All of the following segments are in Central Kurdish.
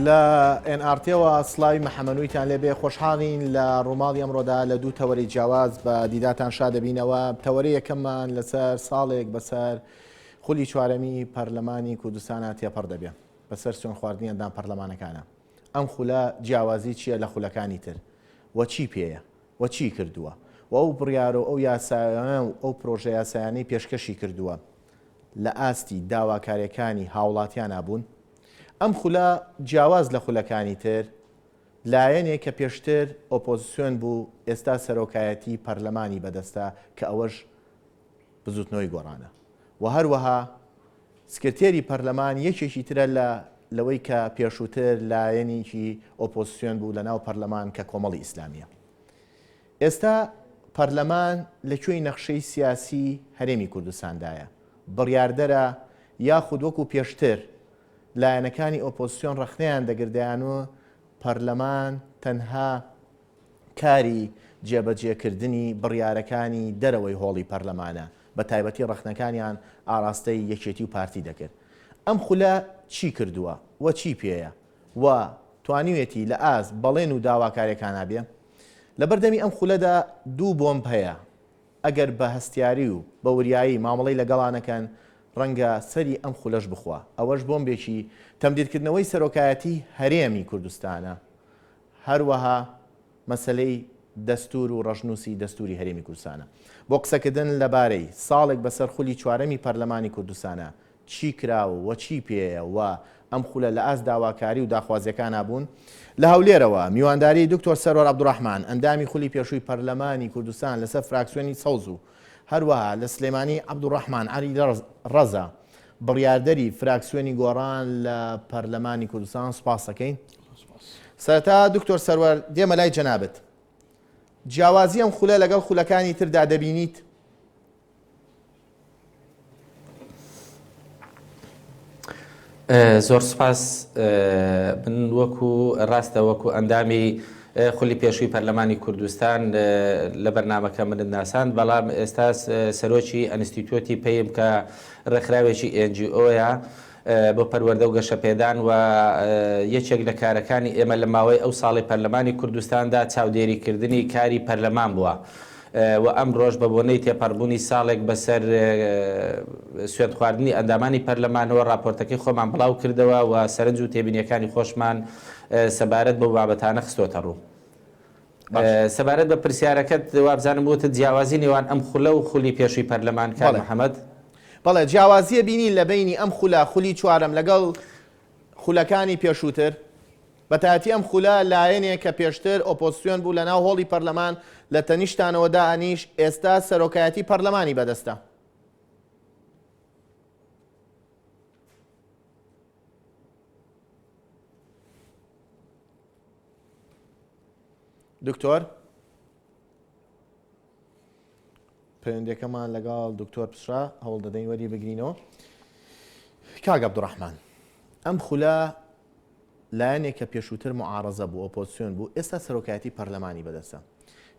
لە ئێنئارتەوە سلاوی محەمەنوویتان لێبێ خۆشحاڵین لە ڕووماڵی ئەمڕۆدا لە دوو تەوەری جیاواز بە دیداتان شا دەبینەوە تەوەری یەکەممان لەسەر ساڵێک بەسەر خولی چوارەمی پەرلەمانی کوردستانە تێپەڕ دەبێ بەسەر سوێن خواردنی ئەندام پەرلەمانەکانا ئەم خولە جیاوازی چیە لە خولەکانی تر و چی پێیە و چی کردووە و ئەو بڕیارو ئەو یاسایانە و ئەو پرۆژە یاسایانەی پێشکەشی کردووە لە ئاستی داواکاریەکانی هاوڵاتیانا بوون؟ ئەم خولە جیاواز لە خولەکانی تر لایەنێک کە پێشتر ئۆپۆزسیۆن بوو ئێستا سەرۆکایەتی پەرلەمانی بەدەستە کە ئەوەش بزوتنەوەی گۆڕانە و هەروەها سکرتێری پەرلەمان یەکێکی ترە لە لەوەی کە پێشووتر لایەنیکی ئۆپۆسیۆن بوو لە ناو پەرلەمان کە کۆمەڵی ئیسلامیە ئێستا پەرلەمان لە کوێی نەخشەی سیاسی هەرێمی کوردستاندایە بڕیاردەرە یاخود وەکو پێشتر لایەنەکانی ئۆپۆسیۆن ڕەخنەیان دەگردیان و پەرلەمان تەنها کاری جێبەجێکردنی بڕیارەکانی دەرەوەی هۆڵی پەرلەمانە، بە تایبەتی ڕەخنەکانیان ئاراستەی یەکێتی و پارتی دەکرد. ئەم خولە چی کردووە و چی پێیە و توانیوێتی لە ئاست بەڵێن و داواکاریەکانا بێ؟ لە بەردەمی ئەم خولەدا دوو بۆمب هەیە، ئەگەر بە هەستیاری و بە وریایی مامەڵەی لەگەڵا نەکەن، ڕەنگە سەری ئەم خولەش بخوا. ئەوەش بۆمبێکی تەمدیدکردنەوەی سەرۆکایەتی هەرێمی کوردستانە هەروەها مەسەلەی دەستوور و ڕەشنووسی دەستووری هەرێمی کوردستانە. بۆ قسەکردن لەبارەی، ساڵێک بەسەر خولی چوارەمی پەرلەمانی کوردستانە، چی کرا و چی پێیە و ئەم خولە لە ئاست داواکاری و داخوازییەکانا بوون؟ لە هەولێرەوە میوانداری دکتۆر سەرۆر عەبدولڕەحمان، ئەندامی خولی پێشووی پەرلەمانی کوردستان لەسەر فراکسیۆنی سەوز و هەروەها لە سلێمانی عەبدولڕەحمان عەلی ڕەزا، بڕیاردەری فراکسیۆنی گۆڕان لە پەرلەمانی کوردستان سوپاس دەکەین. سەرەتا دکتۆر سەروەر دێمە لای جەنابت جیاوازی ئەم خولە لەگەڵ خولەکانی تردا دەبینیت زۆر سپاس من وەکو ڕاستە وەکو ئەندامی خولی پێشووی پەرلەمانی کوردستان لە بەرنمەکە منت ناسان بەڵام ئێستا سەرۆکی ئەنستیتوتی پێیم کە ڕێکخراوێکی ئەنجیۆیە بۆ پەروەردە و گەشەپێدان و یەکێک لە کارەکانی ئێمە لە ماوەی ئەو ساڵەی پەرلەمانی کوردستاندا چاودێریکردنی کاری پەرلەمان بووە و ئەمڕۆش بە بۆنەی تێپەڕبوونی ساڵێک بەسەر سوێندخواردنی ئەندامانی پەرلەمانەوە ڕاپۆرتەکەی خۆمان بڵاو کردەوە و سەرنج و تێبینیەکانی خۆشمان سەبارەت بەو بابەتانە خستۆتە ڕوو. سەبارەت بە پرسیارەکەت وابزانم وتت جیاوازی نێوان ئەم خولە و خولی پێشووی پەرلەمان کاک محمد؟ بەڵێ جیاوازیە بینین لە بەینی ئەم خولە خولی چوارەم لەگەڵ خولەکانی پێشووتر بەتایەتی ئەم خولە لایەنێ کە پێشتر ئۆپۆزسیۆن بوو لە ناو هۆڵی پەرلەمان لە تەنیشتانەوە دا ئەنیشت ئێستا سەرۆکایەتی پەرلەمانی بەدەستە. دکتۆر پەیوەندەکەمان لەگەڵ دکتۆر پسرا هەوڵ دەدەین وەری بگرینەوە کاگ عبدڕحمان ئەم خولە لایەنێک کە پێشووتر معارزە بوو ئۆپۆسیۆن بوو ئێستا سەرۆکایەتی پەرلەمانی بەدەسە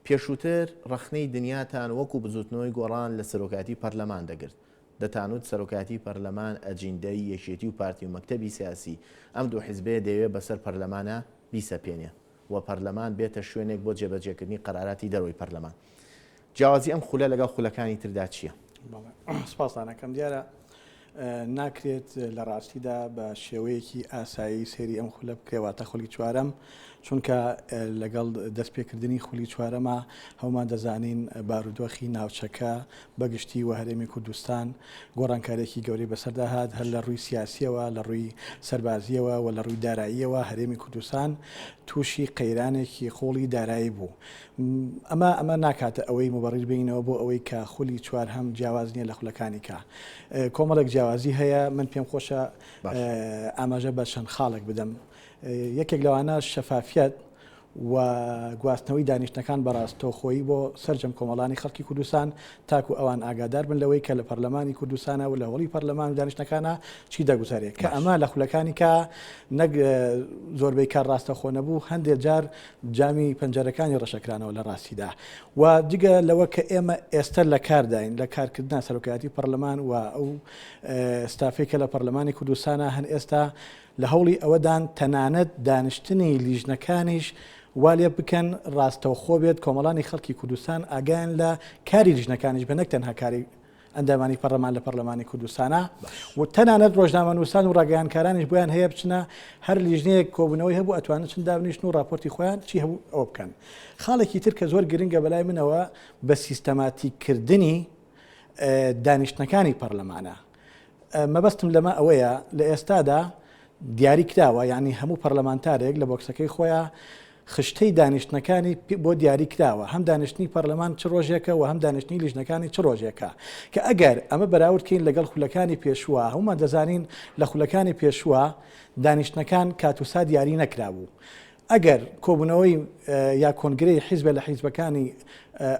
پێشووتر ڕخنەی دنیاتان وەکو بزوتنەوەی گۆڕان لە سەرۆکاتی پەرلەمان دەگرت دەتانوت سەرۆکایەتی پەرلەمان ئەجیندەی یەکێتی و پارتی و مەکتەبی سیاسی ئەم دوو حیزبەیە دەیەوێت بەسەر پەرلەمانا بیسەپێنێ و پەرلەمان بێتە شوێنێک بۆ جێبەجێکردنی قەراراتی دەرەوەی پەرلەمان جیاوازی ئەم خولە لەگەڵ خولەکانی تردا چیە؟ سپاستان ئەکەم دیارە ناکرێت لە ڕاستیدا بە شێوەیەکی ئاسایی سێری ئەم خولە بکرێ واتە خولی چوارەم چونکە لەگەڵ دەستپێکردنی خولی چوارەما هەموومان دەزانین بارودۆخی ناوچەکە بە گشتی و هەرێمی کوردستان گۆڕانکارێکی گەورەی بەسەردا هات هەر لە ڕووی سیاسیەوە لە ڕووی سەربازیەوە و لە ڕووی داراییەوە هەرێمی کوردستان تووشی قەیرانێکی قوڵی دارایی بوو ئەمە ئەمە ناکاتە ئەوەی مبڕیر بینەوە بۆ ئەوەی کە خولی چوار هەم جیاواز نییە لە خولەکانی کە کۆمەڵێک جیاوازی هەیە من پێم خۆشە ئاماژە بە چەند خاڵێک بدەم یەکێک لەوانە شەفافیەت و گواستنەوەی دانیشتنەکان بە ڕاستەوخۆیی بۆ سەرجەم کۆمەڵانی خەڵکی کوردستان تاکو ئەوان ئاگادار بن لەوەی کە لە پەرلەمانی کوردستانە و لە هۆڵی پەرلەمان و دانیشتەکانە چی دەگوزارێت کە ئەمە لە خولەکانی کە نەک زۆربەی کار ڕاستەخۆ نەبوو هەندێک جار جامی پەنجەرەکانی ڕەشەکرانەوە لە ڕاستیدا و جگە لەوە کە ئێمە ئێستا لە کارداین لە کارکردنا سەرۆکایەتی پەرلەمان و ئەو ستافێکە لە پەرلەمانی کوردستانە هەن ئێستا لە هەوڵی ئەوەدان تەنانەت دانیشتنی لیژنەکانیش وا لێ بکەن ڕاستەوخۆ بێت کۆمەڵانی خەڵکی کوردستان ئاگایان لە کاری لیژنەکانیش بێت نەک تەنها کاری ئەندامانی پەڕلەمان لە پەڕلەمانی کوردستانە و تەنانەت ڕۆژنامەنووسان و ڕاگەیانکارانیش بۆیان هەیە بچنە هەر لیژنەیەک کۆبوونەوەی هەبوو ئەتوانن چند دابنیشتن و راپۆرتی خۆیان چی هەبوو ئەوە بکەن خاڵێکی تر کە زۆر گرنگە بەلای منەوە بە سیستەماتیککردنی دانیشتنەکانی پەرلەمانە مەبەستم لەمە ئەوەیە لە ئێستادا دیاری کراوە یعنی هەموو پەرلەمانتارێک لە بۆکسەکەی خۆیان خشتەی دانیشتنەکانی بۆ دیاری کراوە هەم دانیشتنی پەرلەمان چ ڕۆژێکە و هەم دانیشتنی لیژنەکانی چ ڕۆژێکە کە ئەگەر ئەمە بەراوردکەین لەگەڵ خولەکانی پێشووە هەمومان دەزانین لە خولەکانی پێشووە دانیشتنەکان کاتوسا دیاری نەکرابوو ئەگەر کۆبوونەوەی یا کۆنگرەی حیزبە لە حیزبەکانی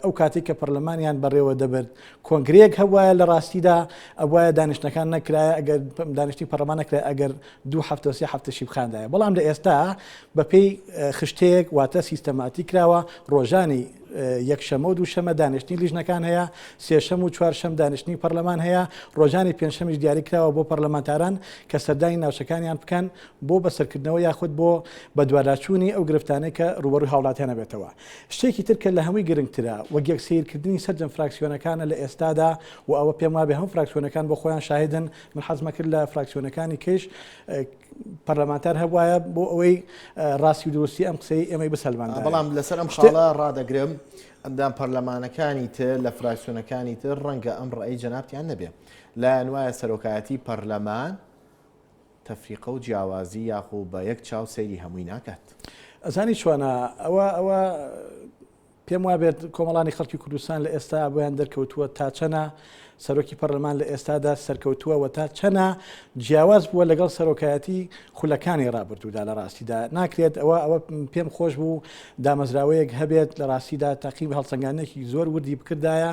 ئەو کاتی کە پەرلەمانیان بەڕێوە دەبرد کۆنگرەیەک هەبواە لە ڕاستیدا ئەوایە دانیشتەکان نەکرایە ئەگەر دانیشتی پەرلەمان نەکرای ئەگەر دوو هەفتە سێ هەفتە شیبخاندایە بەڵام لە ئێستا بەپێی خشتەیەک واتە سیستەماتی کراوە ڕۆژانی یەکشەمە و دووشەمە دانیشتنی لیژنەکان هەیە سێشەم و چوارشەم دانیشتنی پەرلەمان هەیە ڕۆژانی پێنجشەمیش دیاری کراوە بۆ پەرلەمانتاران کە سەردانی ناوچەکانیان بکەن بۆ بەسەرکردنەوە یاخود بۆ بەدواداچوونی ئەو گرفتانەی کە رووبەڕووی هاوڵاتیان ئەبێتەوە. شتێکی تر کە لە هەمووی گرنگترە، وەگێک سەیرکردنی سەرجەم فراکسیۆنەکانە لە ئێستادا و ئەوە پێم وابێ هەموو فراکسیۆنەکان بۆ خۆیان شاهیدن، من حەزم ئەکرد لە فراکسیۆنەکانی کەیش پەرلەمانتار هەبوایە بۆ ئەوەی راستی و دروستی ئەم قسەی ئێمەی بسەلماندایە. بەڵام لەسەر ئەم خاڵە رادەگرم، ئەندام پەرلەمانەکانی تر لە فراکسیۆنەکانی تر رەنگە ئەم رەئەی جەنابتیان نەبێ. لایان وایە سەرۆکایەتی پەرلەمان، تەفریقە و جیاوازی یاخو بە یەک چاو سەیری هەمووی ناکات. ئەزانی چۆنە ئەوە ئەوە پێم وابێت کۆمەڵانی خەڵکی کوردستان لە ئێستا بۆیان دەرکەوتووە تا چەنە سەرۆکی پەرلەمان لە ئێستادا سەرکەوتووە و تا چەنە جیاواز بووە لەگەڵ سەرۆکایەتی خولەکانی ڕابردوودا لە ڕاستیدا ناکرێت ئەوە ئەوە پێم خۆش بوو دامەزراوەیەک هەبێت لە ڕاستیدا تاقیب هەڵسەنگانێکی زۆر وردی بکردایە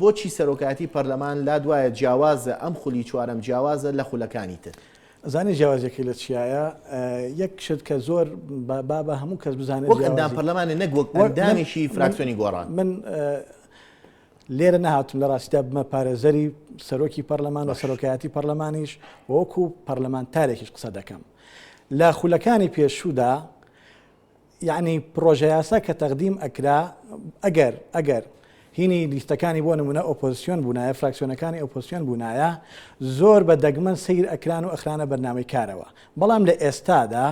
بۆچی سەرۆکایەتی پەرلەمان لا دوایە جیاوازە ئەم خولی چوارەم جیاوازە لە خولەکانی تر؟ ئەزانی جیاوازیەکەی لە چیایە یەک شت کە زۆر با بە هەموو کەس بزانێت وەک ئەندام پەرلەمانە نەک وەک ئەندامێکی فراکسیۆنی گۆڕان من لێرە نهاتم لە ڕاستیدا بمە پارێزەری سەرۆکی پەرلەمان و سەرۆکایەتی پەرلەمانیش وەکو پەرلەمانتارێکیش قسە دەکەم لە خولەکانی پێشوودا یەعنی پڕۆژەیاسا کە تەقدیم ئەکرا ئەگەر ئەگەر هینی لیستەکانی بۆ نمونە ئۆپۆزسیۆن بوونایە فراکسیۆنەکانی ئۆپۆسیۆن بوونایە زۆر بە دەگمەن سیر ئەکران و ئەخرانە بەرنامەی کارەوە بەڵام لە ئێستادا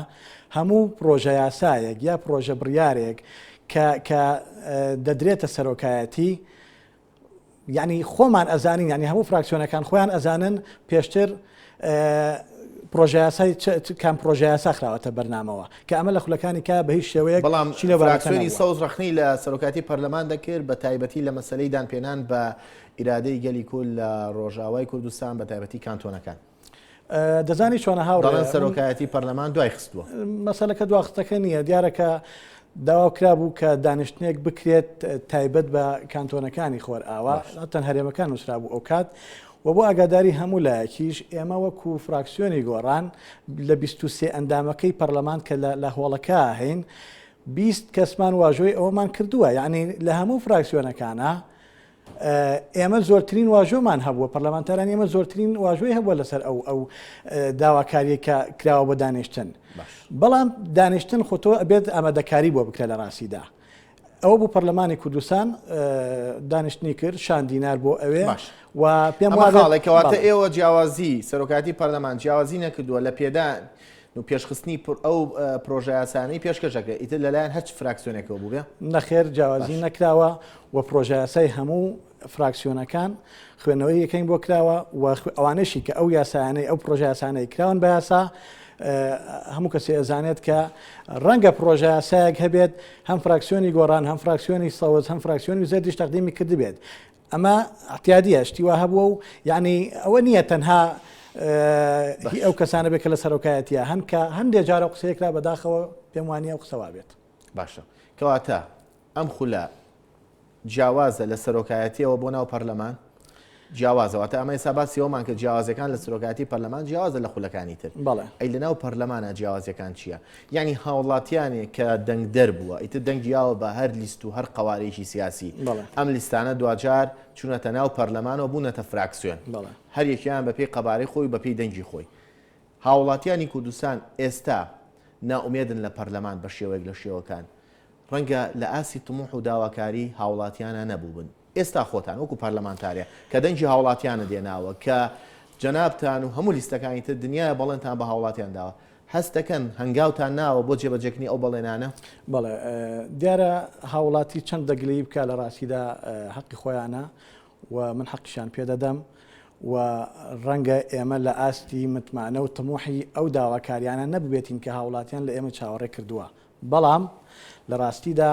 هەموو پرۆژە یاسایەک یا پرۆژە بڕارێک کە دەدرێتە سەرۆکایەتی یانی خۆمان ئەزانین یانی هەموو فراکسیۆنەکان خۆیان ئەزانن پێشتر پرۆژیاسای کام پرۆژیاسا خراوەتە بەرنامەوە کە ئەمە لە خولەکانی کا بە هیچ شێوەیە بەڵام چینەوەراکسۆنی سەوز ڕخنی لە سەرۆکاتی پەرلەمان دەکرد بە تایبەتی لە مەسلەی دانپێنان بە ئیرادەی گەلی کول لە ڕۆژاوای کوردستان بە تایبەتی کانتۆنەکان. دەزانی چۆنە هاوڕێن سەرۆکایەتی پەرلەمان دوای خستووە مەسەلەکە دواخستەکە نییە دیارەکە داوا کرا بوو کە دانیشتنێک بکرێت تایبەت بە کانتۆنەکانی خۆر ئاوا تەن هەرێمەکان نووسرا بوو ئەو کات و بۆ ئاگاداری هەموو لایەکیش ئێمە وەکو فراکسیۆنی گۆڕان لە 23 ئەندامەکەی پەرلەمان کە لە هۆڵەکە هەین بیست کەسمان واژۆی ئەوەمان کردووە یعنی لە هەموو فراکسیۆنەکانە ئێمە زۆرترین واژۆمان هەبووە پەرلەمانتاران ئێمە زۆرترین واژۆی هەبووە لەسەر ئەو ئەو داواکاریە کە کراوە بە دانیشتن بەڵام دانیشتن خۆتۆ ئەبێت ئامادەکاری بۆ بکرێت لە ڕاستیدا ئەوە بوو پەرلەمانی کوردستان دانیشتنی کرد شان دینار بۆ ئەوێ و پێم واڵێکەواتە ئێوە جیاوازی سەرۆکاتی پەرلەمان جیاوازی نەکردووە لە پێدان پێشخستنی ئەو پرۆژایاسانەی پێشکەش دەکرێت ئیتر لەلایەن هەرچ فراکسیۆنێکەوە بووێ نەخێر جیاوازی نەکراوە و پرۆژایاسای هەموو فراکسیۆنەکان خوێنەوەی یەکەین بۆ کراوە و ئەوانەشی کە ئەو یاسایانەی ئەو پرۆژایاسانەی کراون بە یاسا هەموو کەسی ئەزانێت کە ڕەنگە پرۆژە سایەک هەبێت هەم فراکسیۆنی گۆڕان هەم فراکسیۆنی سەوز هەم فراکسیۆنی زەردیش تەقدیمی کردبێت ئەمە ئەعتیادیە شتی وا هەبووە و یعنی ئەوە نییە تەنها هی ئەو کەسانە بێت کە لە سەرۆکایەتە هەن کە هەندێک جارە قسەیەکرا بەداخەوە پێم وانە و قسەوا بێت باشە کەواتە ئەم خولە جیاوازە لە سەرۆکایەتیەوە بۆ ناو پەرلەمان جیاوازەوەتە ئەمە ئێستا باسیەوەمان کە جیاوازەکان لە سرۆکاتی پەرلەمان جیاوازە لە خولەکانی تر بەڵێ ئەی لە ناو پەرلەمانە جیاوازەکان چییە؟ یانی هاوڵاتیانێ کە دەنگدەر بووە ئیتر دەنگی یاوە بە هەر لیست و هەر قەوارەیەکی سیاسی ئەم لیستانە دواجار چونەتە ناو پەرلەمانەوە بوونەتە فراکسیۆن هەر یەکیان بە پێی قەبارەی خۆی بە پێی دەنگی خۆی هاوڵاتیانی کوردستان ئێستا ناومێدن لە پەرلەمان بە شێوەیەک لە شێوەکان ڕەنگە لە ئاسی تموح و داواکاری هاوڵاتیانە نەبووبن ئێستا خۆتان وەکو پەرلەمانتارێ کە دەنگی هاوڵاتیانت هێناوە کە جەنابتان و هەموو لیستەکانی تر دنیایە بەڵێنتان بە هاوڵاتیان داوە، هەست دەکەن هەنگاوتان ناوە بۆ جێبەجێکردنی ئەو بەڵێنانە؟ بەڵێ، دیارە هاوڵاتی چەند دەگلەیی بکا لە راستیدا هەقی خۆیانە و من حەقیشیان پێ دەدەم و رەنگە ئێمە لە ئاستی متمانە و تموحی ئەو داواکاریانە نەببێتین کە هاوڵاتیان لە ئێمە چاوەڕێ کردووە، بەڵام لە راستیدا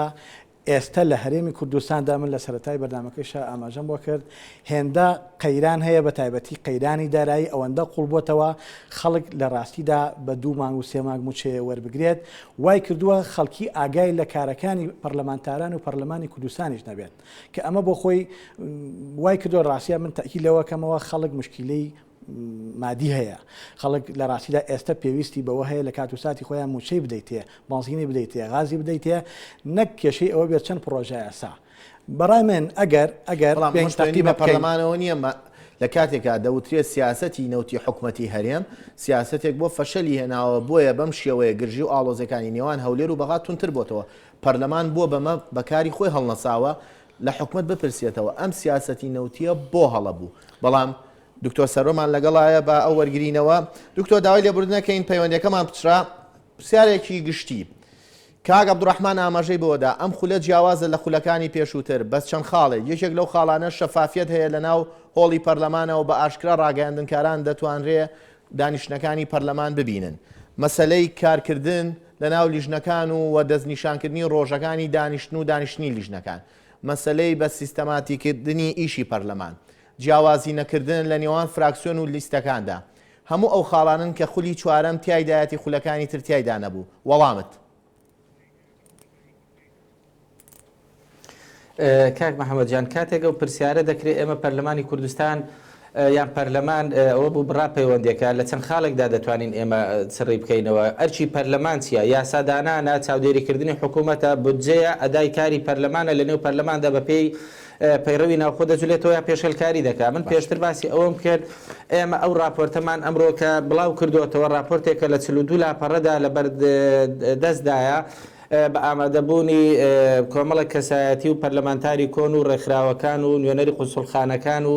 ئێستە لە هەرێمی کوردستاندا من لە سەرەتای بەرنامەکەیشا ئاماژەم بۆ کرد، هێندە قەیران هەیە بە تایبەتی قەیرانی دارایی ئەوەندە قوڵ بۆتەوە خەڵک لە راستیدا بە دوو مانگ و سێ مانگ موچەیە وەربگرێت وای کردووە خەڵکی ئاگای لە کارەکانی پەرلەمانتاران و پەرلەمانی کوردستانیش نەبێت کە ئەمە بۆ خۆی وای کردووە راستە من تەئکید لەوە کەمەوە خەڵک مشکیلەی مادی هەیە خەڵک لە ڕاستیدا ئێستە پێویستی بەوە هەیە لە کات و ساتی خۆیان موچەی بدەیتێ بەنزینی بدەیتێ غازی بدەیتێ نەک کێشەی ئەوە بێت چەند پرۆژە یاسا بەڕای من ئەگەر ئەگەر پێنجتەقی بە پەرلەمانەوە نییە لە کاتێکا دەوترێت سیاستی نەوتی حکوومەتتی هەرێم سیاستێک بۆ فەشەلی هێناوە بۆیە بەم شێوەیە گرژی و ئاڵۆزەکانی نێوان هەولێر و بەغا تونتر بۆتەوە پەرلەمان بۆ بەمە بەکاری خۆی هەڵنەساوە لە حکومت بپرسێتەوە ئەم سیاستی نەوتیە بۆ هەڵە بوو بەڵام دکتۆر سەرۆمان لەگەڵایە با ئەو وەرگرینەوە دکتۆر داوای لێبوردنەکەین پەیوەندەکەمان پچرا پرسیارێکی گشتی کاک عبدڕحمان ئاماژەی بۆدا ئەم خولە جیاوازە لە خولەکانی پێشووتر بەس چەند خاڵێک یەکێک لەو خاڵانە شەفافیت هەیە لە ناو هۆڵی پەرلەمانەوە بە ئاشکرا ڕاگەیاندنکاران دەتوانرێ دانیشتنەکانی پەرلەمان ببینن مەسلەی کارکردن لە ناو لیژنەکان و و دەستنیشانکردنی ڕۆژەکانی دانیشتن و دانیشتنی لیژنەکان مەسلەی بە سیستەماتیکردنی ئیشی پەرلەمان جیاوازی نەکردن لە نێوان فراکسیۆن و لیستەکاندا هەموو ئەو خاڵانەن کە خولی چوارەم تیایدایەتی خولەکانی تر تیایدا نەبوو وەڵامت. کاک محمد جان کاتێک ئەو پرسیارە دەکرێت ئێمە پەرلەمانی کوردستان یان پەرلەمان ئەوە بوو بڕا پەیوەندەکە لە چەند خاڵێکدا دەتوانین ئێمە سڕی بکەینەوە ئەرچی پەرلەمان چیە یاسادانانە چاودێریکردنی حکوومەتە بودجەیە ئەدای کاری پەرلەمانە لە نێو پەرلەماندا بەپێی پەیڕەوی ناوخۆ دەجولێتەوە یا پێشێلکاری دەکات من پێشتر باسی ئەوەم کرد ئێمە ئەو ڕاپۆرتەمان ئەمرۆ کە بڵاو کردوەتەوە ڕاپۆرتێکە لە چلو دوو لاپەڕەدا لە بەرد دەستدایە بە ئامادەبوونی کۆمەڵە کەسایەتی و پەرلەمانتاری کۆن و ڕێکخراوەکان و نوێنەری قونسڵخانەکان و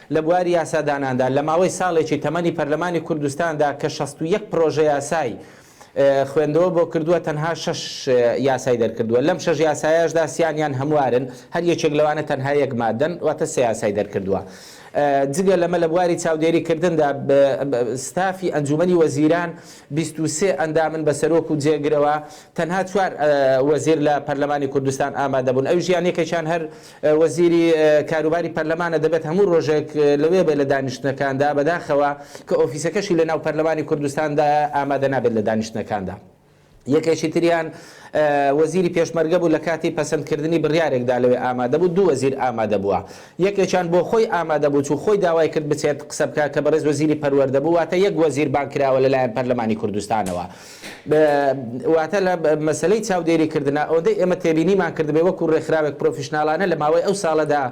لە بواری یاساداناندا لە ماوەی ساڵێکی تەمەنی پەرلەمانی کوردستاندا کە شەست و یەک پرۆژەیاسای خوێندەوە بۆ کردووە تەنها شەش یاسای دەرکردووە لەم شەش یاسایاشدا سیانیان هەموارن هەر یەکێک لەوانە تەنها یەک مادەن واتە سێ یاسای دەرکردووە جگە لەمە لە بواری چاودێری کردندا ستافی ئەنجومەنی وەزیران 23 ئەندامن بە سەرۆک و جێگرەوە تەنها چوار وەزیر لە پەرلەمانی کوردستان ئامادەبوون ئەوژیان یەکێکیان هەر وەزیری کاروباری پەرلەمانە دەبێت هەموو رۆژێک لەوێ بێت لە دانیشتنەکاندا، بەداخەوە کە ئۆفیسەکەشی لە ناو پەرلەمانی کوردستاندایە ئامادە نابێت لە دانیشتنەکاندا. یەکێکی تریان وەزیری پێشمەرگە بوو لە کاتی پەسەند کردنی بڕیارێکدا لەوێ ئامادە بوو، دوو وەزیر ئامادە بووە یەکێکیان بۆ خۆی ئامادە بوو چوو خۆی داوای کرد بچێت قسە بکات کە بەڕێز وەزیری پەروەردە بوو، واتە یەک وەزیر بانگ کراوە لەلایەن پەرلەمانی کوردستانەوە. واتە لە مەسەلەی چاودێری کردنا ئەوەندەی ئێمە تێبینیمان کردبێ وەکو ڕێکخراوێک پرۆفیشناڵانە لە ماوەی ئەو ساڵەدا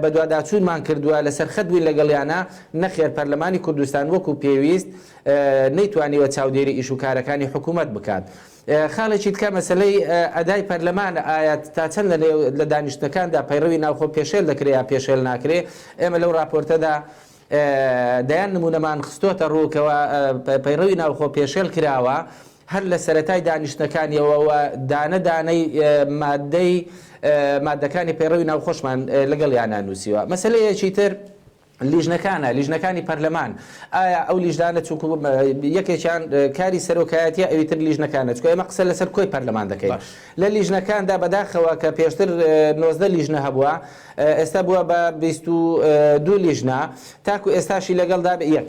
بەدواداچوونمان کردووە لەسەر خەت بووین لەگەڵیانا نەخێر پەرلەمانی کوردستان وەکو پێویست نەیتوانیوە چاودێری ئیش و کارەکانی حکوومەت بکات. خاڵێکی تکە مەسلەی ئەدای پەرلەمان ئاەت تا چەند لە لە دانیشتەکاندا پەیڕەوی ناوخۆ پێشێل دەکرێ یا پێشێل ناکرێ ئێمە لەو راپۆرتەدا دەیان نموونەمان خستۆتە ڕوو کەوا پەیڕەوی ناوخۆ پێشێل کراوە هەر لە سەرەتای دانیشتنەکانیەوەوە دانە دانەی مادەی مادەکانی پەیڕەوی ناوخۆشمان لەگەڵ یانە نووسیوە مەسلەیەکی تر لیژنەکانە لیژنەکانی پەرلەمان ئایا ئەو لیژدانە چونکو یەکێکیان کاری سەرۆکایەتی ئەوی تر لیژنەکانە چکە ئێمە قسە لەسەر کۆی پەرلەمان دەکەین لە لیژنەکاندا بەداخەوە کە پێشتر نۆزدە لیژنە هەبووە ئێستا بووە بە بیست و دوو لیژنە تاکو ئێستاشی لەگەڵدا بە یەک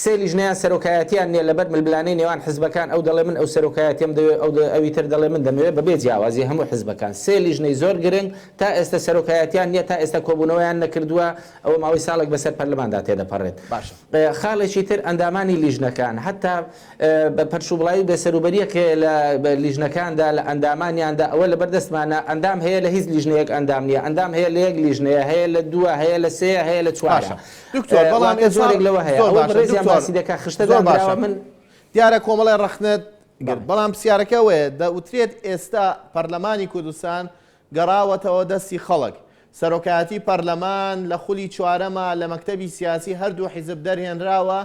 سێ لیژنەیان سەرۆکایەتیان نییە لەبەر ململانێی نێوان حزبەکان ئەو دەڵێ من ئەو سەرۆکایەتیم دەوێت ئەو ئەوی تر دەڵێ من دەمەوێت بەبێ جیاوازی هەموو حزبەکان سێ لیژنەی زۆر گرنگ تا ئێستا سەرۆکایەتیان نییە تا ئێستا کۆبوونەوەیان نەکردووە ئەوە ماوەی ساڵێک بەسەر پەرلەماندا تێدەپەڕێت باشە خاڵێکی تر ئەندامانی لیژنەکان هەتا بە پەرشوبڵاوی بێسەروبەریەک هەیە لە لیژنەکاندا لە ئەندامانیاندا ئەوە لەبەر دەستمانە ئەندام هەیە لە هیچ لیژنەیەک ئەندام نیە ئەندام هەیە لە یەک لیژنەیە هەیە لە دووە هەیە لە سێە هەیە لە چوارە دکتۆر بەڵام زۆرێک لەوە هەیە ڕێزیان باسی دەکە خشتە زۆر باشە من دیارە کۆمەڵی ڕخنت بەڵام پرسیارەکە وەیە دەوترێت ئێستا پەرلەمانی کوردستان گەڕاوەتەوە دەستی خەڵک سەرۆکایەتی پەرلەمان لە خولی چوارەما لە مەکتتەبی سیاسی هەردوو حیزب دەرهێنراوە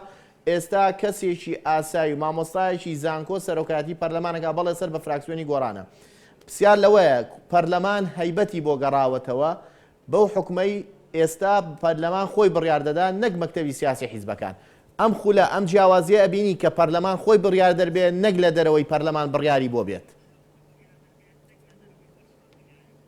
ئێستا کەسێکی ئاسای و مامۆستایەکی زانکۆ سەرۆکایەتی پەرلەمانەکا بەڵێ سەر بە فراکسیۆنی گۆڕانە پسیار لەوەیە پەرلەمان هەیبەتی بۆ گەڕاوەتەوە بەو حوکمەی ئێستا پەرلەمان خۆی بڕیار دەدا نەک مەکتەبی سیاسی حیزبەکان ئەم خولە ئەم جیاوازیە ئەبینی کە پەرلەمان خۆی بڕیار دەربێ نەک لە دەرەوەی پەرلەمان بڕیاری بۆ بێت.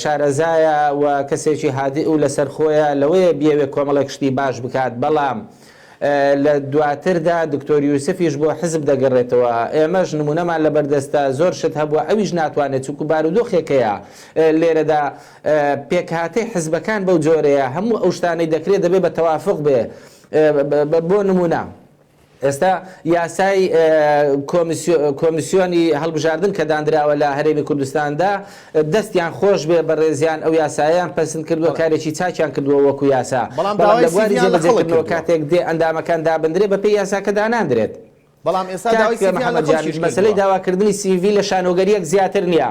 شارەزایە و کەسێکی هادئ و لەسەر خۆیە لەوەیە بیەوێت کۆمەڵێک شتی باش بکات بەڵام لە دواتردا دکتۆر یوسفیش بۆ حزب دەگەڕێتەوە ئێمەش نمونەمان لەبەر دەستە زۆر شت هەبووە ئەویش ناتوانێت چونکو بارودۆخێکەیە لێرەدا پێکهاتەی حزبەکان بەو جۆرەیە هەموو ئەو شتانەی دەکرێت دەبێت بە تەوافق بێ بۆ نمونە ئێستا یاسای کۆمیسیۆنی هەڵبژاردن کە داندراوە لە هەرێمی کوردستاندا، دەستیان خۆش بێ بەڕێزیان ئەو یاسایەیان پەسند کردووە، کارێکی چاکیان کردووە وەکو یاسا، بەڵام لە بواری جێبەجێکردنەوە کاتێک دێ ئەندامەکان دابندرێ بەپێی یاساکە داناندرێت. کاک محەمەد جاوید، مەسەلەی داواکردنی سی ڤی لە شانۆگەرییەک زیاتر نییە،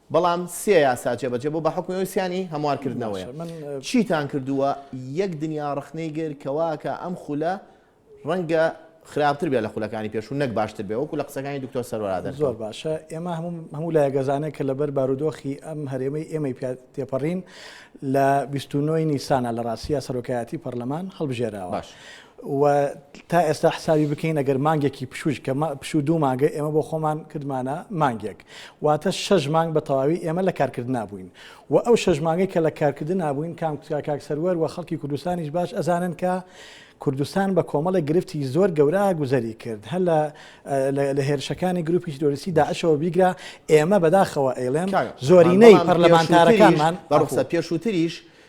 بەڵام سێ یاسا جێبەجێ بوو بە حوکمی ئەوەی سیان ی هەموارکردنەوەیە چیتان کردووە یەک دنیا ڕەخنەی گر کەواکە ئەم خولە ڕەنگە خراپتر بێ لە خولەکانی پێشوو نەک باشتر بێ وەکو لە قسەکانی دکتۆر سەرۆرادەر زۆر باشە ئێمە هەموو لای گەزانێک کە لەبەر بارودۆخی ئەم هەرێمەی ئێمەی پێ تێپەڕین لە 29 نیسانە لە ڕاستە سەرۆکایەتی پەرلەمان هەڵبژێراوە باش وە تا ئێستا حسابی بکەین ئەگەر مانگێکی پشووش کە پشوو دوو مانگە ئێمە بۆ خۆمان کردمانە مانگێک واتە شەش مانگ بە تەواوی ئێمە لە کارکردنا بووین و ئەو شەش مانگەی کە لە کارکردنا بووین کام کاک سەروەر و خەڵکی کوردستانیش باش ئەزانن کە کوردستان بە کۆمەڵە گرفتی زۆر گەورە گوزەری کرد هەر لە هێرشەکانی گروپی ترۆریسی داعشەوە بیگرا ئێمە بەداخەوە ئەیڵێن زۆرینەی پەرلەمانتارەکانمان بەڕسە پێشووتریش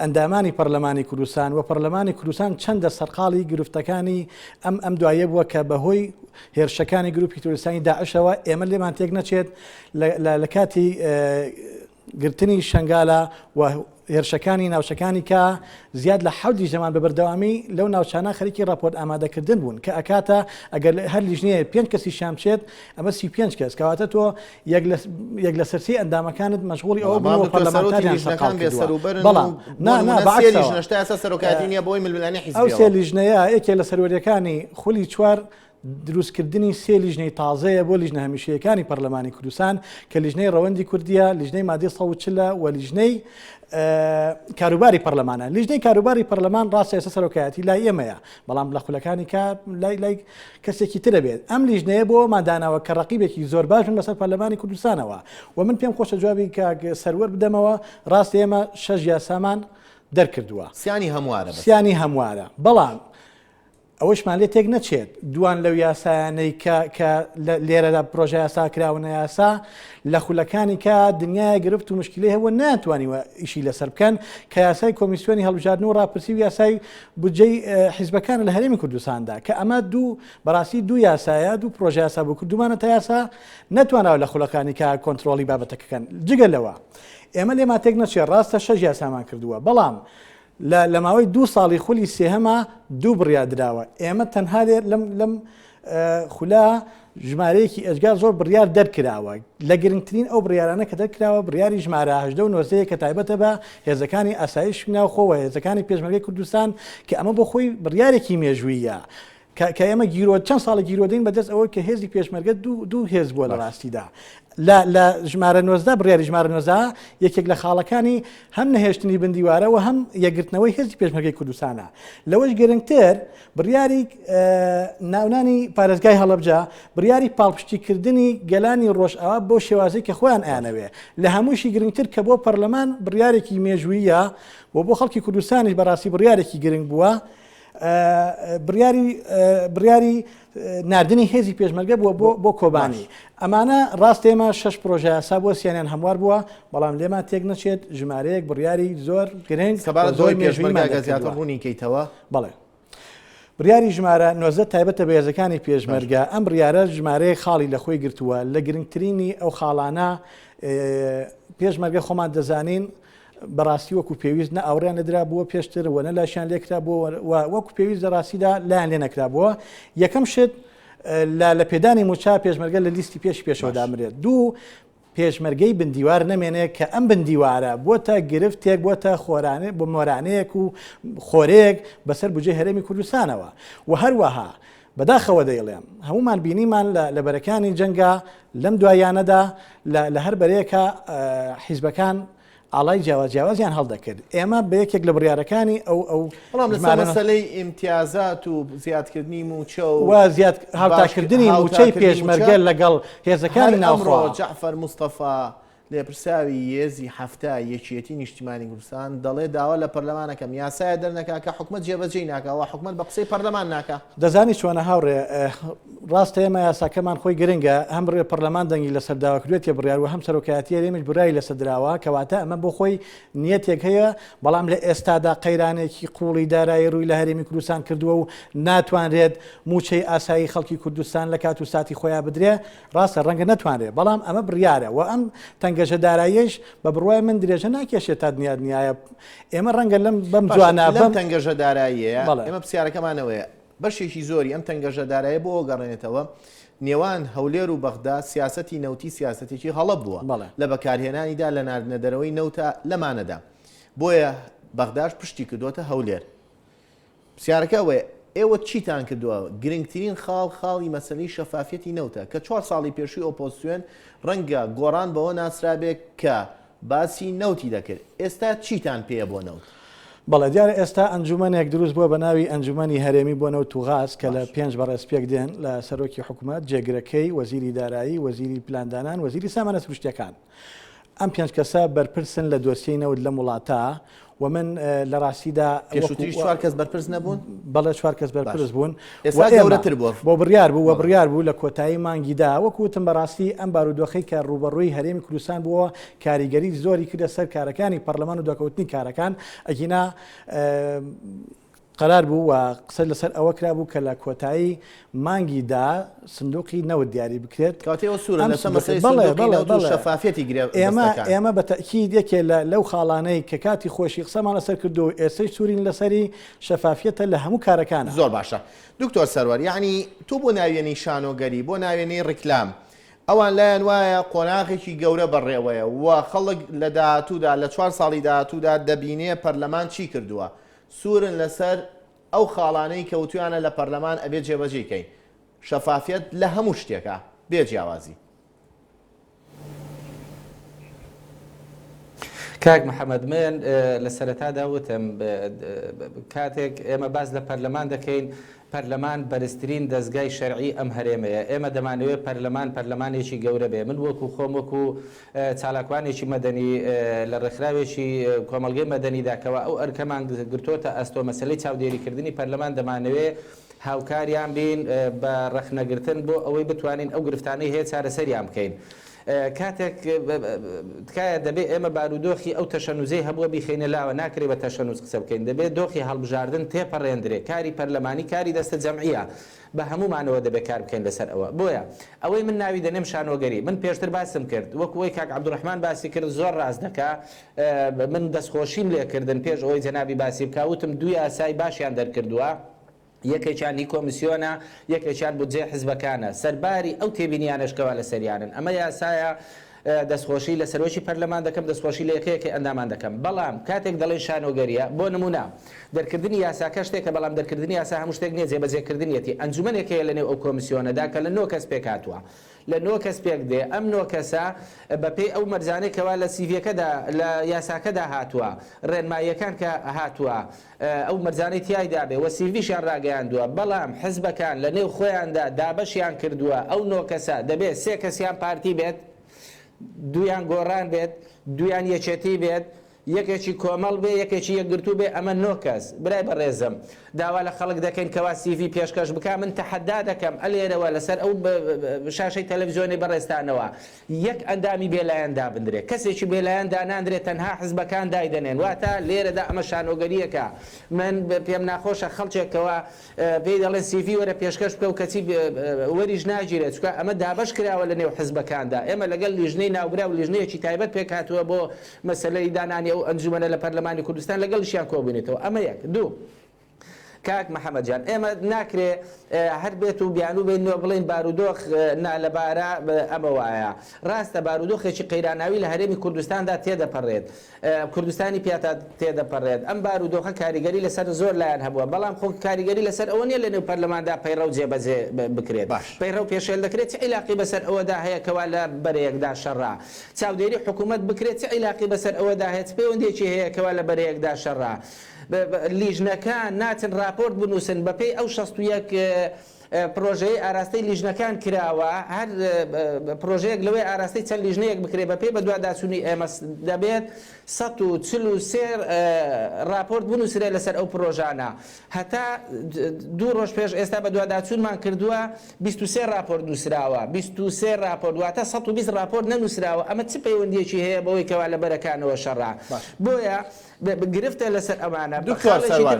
ئەندامانی پەرلەمانی کوردستان و پەرلەمانی کوردستان چەندە سەرقاڵی گرفتەکانی ئەم ئەم دوایە بووە کە بەهۆی هێرشەکانی گروپی تورستانی داعشەوە ئێمە لێمان تێک نەچێت لە کاتی گرتنی شنگالە و هێرشەکانی ناوچەکانی کە زیاد لە حەودی زەمان بە بەردەوامی لەو ناوچانە خەرکی راپۆرت ئامادەکردن بوون کە ئەکاتە ئەگەر هەر لیژنەیە پێنج کەسی شامچێت ئەمە سی پێنج کەس کەواتە تۆ یەک لەسەر سێ ئەندامەکانت مەشغوڵی ئەوە بوون بەڵام پەرلەمانتاریان سەرقاڵ سەرۆکایەتی کردووە. بەسەروبەرن و بەڵام نا بۆ نا نموونە سێ بەعەکسەوە. لیژنەش تا ئێستا سەرۆکایەتی نییە بۆی ململانێ ئەو سێ حیزبییەوە. لیژنەیە یەکێ لە سەروەریەکانی خولی چوار دروستکردنی سێ لیژنەی تازەیە بۆ لیژنە هەمیشەیەکانی پەرلەمانی کوردستان کە لیژنەی ڕەوەندی کوردییە، لیژنەی مادەی سەد و چل ە و لیژنەی کاروباری پەرلەمانە. لیژنەی کاروباری پەرلەمان ڕاستە ئێستا سەرۆکایەتی لای ئێمەیە بەڵام لە خولەکانی کار لای لای کەسێکی ترە بێت ئەم لیژنەیە بۆ ئەوەمان داناوە کە ڕەقیبێکی زۆر باش بن بەسەر پەرلەمانی کوردستانەوە و من پێم خۆشە جوابی کاک سەروەر بدەمەوە ڕاستە ئێمە شەش یاسامان دەرکردووە سیانی هەموارە بەس. سیانی هەموارە بەڵام ئەوەشمان لێ تێک نەچێت دوان لەو یاسایانەی کە کە لە لێرەدا پرۆژە یاسا کراونە یاسا لە خولەکانی کە دنیای گرفت و مشکلی هەبووە ناتوانیوە ئیشی لەسەر بکەن کە یاسای کۆمیسیۆنی هەڵبژاردن و ڕاپرسی و یاسای بودجەی حیزبەکانە لە هەرێمی کوردستاندا کە ئەمە دوو بەڕاستی دوو یاسایە دوو پرۆژە یاسا بۆ کردومانە تا یاسا نەتوانەوە لە خولەکانی کە کۆنتترۆلی بابەتەکەکەن جگە لەوە ئێمە لێ ماتێک نەچێ ڕاستە شەژ یاسامان کردووە بەڵام لە ماوەی دوو ساڵی خولی سێهەما دوو بڕیا دراوە ئێمە تەنها لێ لەم لەم خولە ژمارەیەکی ئێجگار زۆر بڕیار دەرکراوە لە گرنگترین ئەو بڕیارانە کە دەرکراوە بڕیاری ژمارە هەژدە و نۆزەیە کە تایبەتە بە هێزەکانی ئاسایش ناوخۆوە هێزەکانی پێشمەرگەی کوردستان کە ئەمە بۆ خۆی بڕیارێکی مێژوویە کە ئێمە گیرۆ چەند ساڵە گیرۆدەین بەدەست ئەوە کە هێزی پێشمەرگە دوو هێز بووە لە ڕاستیدا لە ژمارە نۆزدا بڕیاری ژمارە نۆزا یەکێک لە خاڵەکانی هەم نەهێشتنی بندیوارەوە هەم یەگرتنەوەی هێزی پێشمەرگەی کوردستانە لەوەش گرنگتر بڕیاری ناونانی پارێزگای هەڵەبجە بڕیاری پاڵپشتیکردنی گەلانی ڕۆژئاوا بۆ شێوازی کە خۆیان ئەیانەوێ لە هەمووشی گرنگتر کە بۆ پەرلەمان بڕیارێکی مێژوویە و بۆ خەڵکی کوردستانیش بەڕاستی بڕیارێکی گرنگ بووە بڕیاری نردنی هێزی پێشمەرگە بووە بۆ بۆ کۆبانی ئەمانە ڕاست ئێمە شش پرۆژە سا بۆ سیانیان هەموار بووە بەڵام لێمان تێک نەچێت ژمارەیەک بڕیاری زۆر گرنگ سەبار زۆر مێژمەگە زیاتر ڕوونی کەیتەوە بەڵێ. بڕیاری ژمارە نۆزدە تایبەتە بە هێزەکانی پێشمەرگە، ئەم بڕیارە ژمارەیەک خاڵی لە خۆی گرتووە، لە گرنگترینی ئەو خاڵانە پێشمەرگە خۆمان دەزانین بەڕاستی وەکو پێویست نە ئاوڕیان نەدرا بووە پێشتر وە نە لاشیان لێکرا بووە وەکو پێویست لە ڕاستیدا لایەن لێ نەکرا بووە یەکەم شت لە لە پێدانی موچا پێشمەرگە لە لیستی پێش پێشەوە دامرێت دوو پێشمەرگەی بندیوار نەمێنێ کە ئەم بندیوارە بۆتە گرفتێک بۆتە خۆرانێ بۆ مۆرانەیەک و خۆرێک بەسەر بجێ هەرێمی کوردستانەوە و هەروەها بەداخەوە دەیڵێم هەمومان بینیمان لە بەرەکانی جەنگا لەم دوایانەدا لە هەر بەرەیەکە حیزبەکان ئاڵای جیاواز جیاوازیان هەڵدەکرد ئێمە بە یەکێک لە بڕیارەکانی ئەو ئەو بەڵام لەسەر ژمارە مەسەلەی ئیمتیازات و زیادکردنی مووچە و و زیاد هاوتاکردنی هاوتاکردنی مووچەی مووچە پێشمەرگە لەگەڵ هێزەکانی هەر ئەمڕۆ ناوخۆ جەعفەر مستەفا لێپرسراوی یێزی حەفتا یەکیەتی نیشتیمانی کوردستان دەڵێ داوا لە پەرلەمانەکەم یاسایە دەرنەکا کە حکومەت جێبەجێی ناکا وا حکومەت بە قسەی پەرلەمان ناکا. دەزانی چۆنە هاوڕێ ئه و ڕاستە ئێمە یاساکەمان خۆی گرنگە، هەم بڕێ پەڕلەمان دەنگی لەسەر داوە کردوێتیە بڕیار و هەم سەرۆکایەتی هەرێمیش برای لەسە دراوە، کەواتە ئەمە بۆ خۆی نیەتێک هەیە، بەڵام لە ئێستادا قەیرانێکی قووڵی دارایی ڕووی لە هەرێمی کوردستان کردووە و ناتوانرێت مووچەی ئاسایی خەڵکی کوردستان لە کات و ساتی خۆیا بدرێ، ڕاستە ڕەنگە نەتوانرێ، بەڵام ئەمە بڕیارە و ئەم تەنگەژە داراییەش بە بڕوای من درێژە ناکێشێت تا دنیا دنیایە، ئێمە ڕەنگە لەم بەم جوانە بەم تەنگەژە داراییەیە ئێمە پرسیارەکەمانەوەیە، بەشێکی زۆری ئەم تەنگەژە دارایە بۆ گەڕێنێتەوە نێوان هەولێر و بەغدا سیاستی نەوتی سیاستێکی هەڵە بووە لە بەکارهێنانیدا لە ناردنەدەرەوەی نەوتە لەمانەدا بۆیە بەغداش پشتی کردوتە هەولێر پرسیارەکە ئەوەیە ئێوە چیتان کردووە گرنگترین خاڵ خاڵی مەسلی شەفافەتی نەوتە کە چوار ساڵی پێشووی ئۆپۆسیۆن ڕەنگە گۆڕان بەوە ناسرابێت کە باسی نەوتی دەکرد، ئێستا چیتان پێیە بۆ نەوت؟ بەڵێ دیارە ئێستا ئەنجومەنێک دروست بووە بەناوی ئەنجومەنی هەرێمی بۆ نەوت و غاز کە لە پێنج بەڕێز پێک دێن لە سەرۆکی حکومەت، جێگرەکەی، وەزیری دارایی، وەزیری پلاندانان، وەزیری سامانە سروشتیەکان. ئەم پێنج کەسە بەرپرسن لە دۆسیەی نەوت لەم وڵاتە. و من لە ڕاستیدا پێشوتری چوار کەس بەرپرس نەبوون بەڵێ چوار کەس بەرپرس بوون گەورەتر بوو بۆ بڕیار بوو و بڕیار بوو لە کۆتایی مانگیدا وەکوتم بەڕاستی ئەم بارودۆخی کە ڕوبەڕووی هەرێمی کوردستان بووە کاریگەری زۆری کردە سەر کارەکانی پەرلەمان و دەکەوتنی کارەکان ئەگینا قەرار بوو و قسە لەسەر ئەوە کرابوو کە لە کۆتایی مانگی دا سندوقی نەوت دیاری بکرێت. کەواتە ئەوە سوورە لەسەر مەسەلەی سندوقی نەوت و شەفافیەتی گرێبەستەکان. ئێمە بە تەئکید یەکێ لە لەو خاڵانەی کە کاتی خۆشی قسەمان لەسەر کردووە و ئێستەیش سوورین لەسەری، شەفافیەتە لە هەموو کارەکانا. زۆر باشە دکتۆر سەروەر، یەعنی تۆ بۆ ناوێنەی شانۆگەری، بۆ ناوێنەی ڕیکلام، ئەوان لایان وایە قۆناغێکی گەورە بەڕێوەیە و خەڵک لە داهاتوودا، لە چوار ساڵی داهاتوودا دەبینێ پەرلەمان چی کردووە؟ سورن لەسەر ئەو خاڵانەی کەوتویانە لە پەرلەمان ئەبێ جێبەجێی کەین شەفافیەت لە هەموو شتێکا بێ جیاوازی. کاک محمد من لە سەرەتادا وتم کاتێک ئێمە باس لە پەرلەمان دەکەین پەرلەمان بەرزترین دەزگای شەرعی ئەم هەرێمەیە، ئێمە دەمانەوێت پەرلەمان پەرلەمانێکی گەورە بێت، من وەکو خۆم وەکو چالاکوانێکی مەدەنی لە ڕێکخراوێکی کۆمەڵگەی مەدەنیدا کەوا ئەو ئەرکەمان گرتۆتە ئەستۆ مەسەلەی چاودێریکردنی پەرلەمان دەمانەوێت هاوکاریان بین بە ڕەخنەگرتن بۆ ئەوەی بتوانین ئەو گرفتانەی هەیە چارەسەریان بکەین. کاتێک تکایە دەبێ ئێمە بارودۆخی ئەو تەشەنوزەی هەبووە بیخەینە لاوە ناکرێ بە تەشەنوز قسە بکەین دەبێ دۆخی هەڵبژاردن تێپەڕێندرێ کاری پەرلەمانی کاری دەستە جەمعیە بە هەموومانەوە دەبێ کار بکەین لەسەر ئەوە بۆیە ئەوەی من ناوی دەنێم شانۆگەری من پێشتر باسم کرد وەک ئەوەی کاک عەبدوڕەحمان باسی کرد زۆر ڕاست دەکا من دەستخۆشیم لێکردن پێش ئەوەی جەنابی باسی بکا وتم دوو یاسای باشیان دەرکردووە یەکێکیان هی کۆمیسیۆنە، یەکێکیان بودجەی حزبەکانە، سەرباری ئەو تێبینییانەش کەوا لەسەریانن. ئەمە یاسایە، دەستخۆشی لە سەرۆکی پەرلەمان دەکەم، دەستخۆشی لە یەکەیەکەی ئەندامان دەکەم. بەڵام کاتێک دەڵێین شانۆگەرییە، بۆ نموونە، دەرکردنی یاساکە شتێکە، بەڵام دەرکردنی یاسا هەموو شتێک نییە، جێبەجێکردنیەتی. ئەنجومەنێک هەیە لەنێو ئەو کۆمیسیۆنەدا کە لە نۆ کەس پێکهاتووە، لە نۆ کەس پێکدێ، ئەم نۆ کەسە بەپێی ئەو مەرجانەی کەوا لە سیڤییەکەدا، لە یاساکەدا هاتووە، رێنماییەکان کە هاتووە، ئەو مەرجانەی تیایدا بێ و سیڤیشیان راگەیاندووە، بەڵام حزبەکان لە نێو خۆیاندا دابەشیان کردووە، ئەو نۆ کەسە دەبێ سێ کەسیان پارتی بێت، دوویان گۆڕان بێت، دوویان یەکێتی بێت، یەکێکی کۆمەڵ بێ، یەکێکی یەکگرتوو بێ، ئەمە نۆ کەس، برای بەڕێزم داوا لە خەڵک دەکەین کەوا سیڤی پێشکەش بکا، من تەحەدا دەکەم ئەلێرەوە لەسەر ئەو شاشەی تەلەفزیۆنەی بەڕێزتانەوە، یەک ئەندامی بێلایەن دابندرێت، کەسێکی بێلایەن داناندرێت تەنها حزبەکان دایدەنێن، واتە لێرەدا ئەمە شانۆگەرییەکە، من پێم ناخۆشە خەڵکێک کەوا پێی دەڵێن سیڤی وەرە پێشکەش بکەو کەچی وەریش ناگیرێت چونکە ئەمە دابەش کراوە لە نێو حزبەکاندا، ئێمە لەگەڵ لیژنەی ناوبراو لیژنەیەکی تایبەت پێکهاتووە بۆ مەسەلەی دانانی ئەو ئەنجومەنە لە پەرلەمانی کوردستان لەگەڵیشیان کۆبوینەتەوە، ئەمە یەک، دوو. کاک محمد جان ئێمە ناکرێ هەر بێت و بیانوو بین و بڵین بارودۆخ نالەبارە ئەمە وایە ڕاستە بارودۆخێکی قەیراناوی لە هەرێمی کوردستاندا تێدەپەڕێت کوردستانی پیاتا تێدەپەڕێت ئەم بارودۆخە کاریگەری لەسەر زۆر لایەن هەبووە بەڵام خۆ کاریگەری لەسەر ئەوە نیە لە نێو پەرلەماندا پەیڕەو جێبەجێ بکرێت باش پەیڕەو پێشێل دەکرێت چ عیلاقی بەسەر ئەوەدا هەیە کەوا لە بەرەیەکدا شەڕە چاودێری حکوومەت بکرێت چ عیلاقی بەسەر ئەوەدا هەیە چ پەیوەندێکی هەیە کەوا لە بەرەیەکدا شەڕە لیژنەکان ناچن ڕاپۆرت بنووسن بەپێی ئەو شەست و یەک پرۆژەیەی ئاراستەی لیژنەکان کراوە، هەر پرۆژەیەک لەوێ ئاراستەی چەند لیژنەیەک بکرێت بەپێی بەدواداچوونی ئێمە دەبێت سەد و چل و سێ ڕاپۆرت بنووسرێت لەسەر ئەو پرۆژانە هەتا دوو ڕۆژ پێش ئێستا بەدواداچوونمان کردووە بیست و سێ ڕاپۆرت نووسراوە بیست و سێ ڕاپۆرت واتە سەد و بیست ڕاپۆرت نەنووسراوە ئەمە چ پەیوەندییەکی هەیە بەوەی کەوا لە بەرەکانەوە شەڕە بۆیە گرفتە لەسەر ئەوانە دکتۆر سەروەر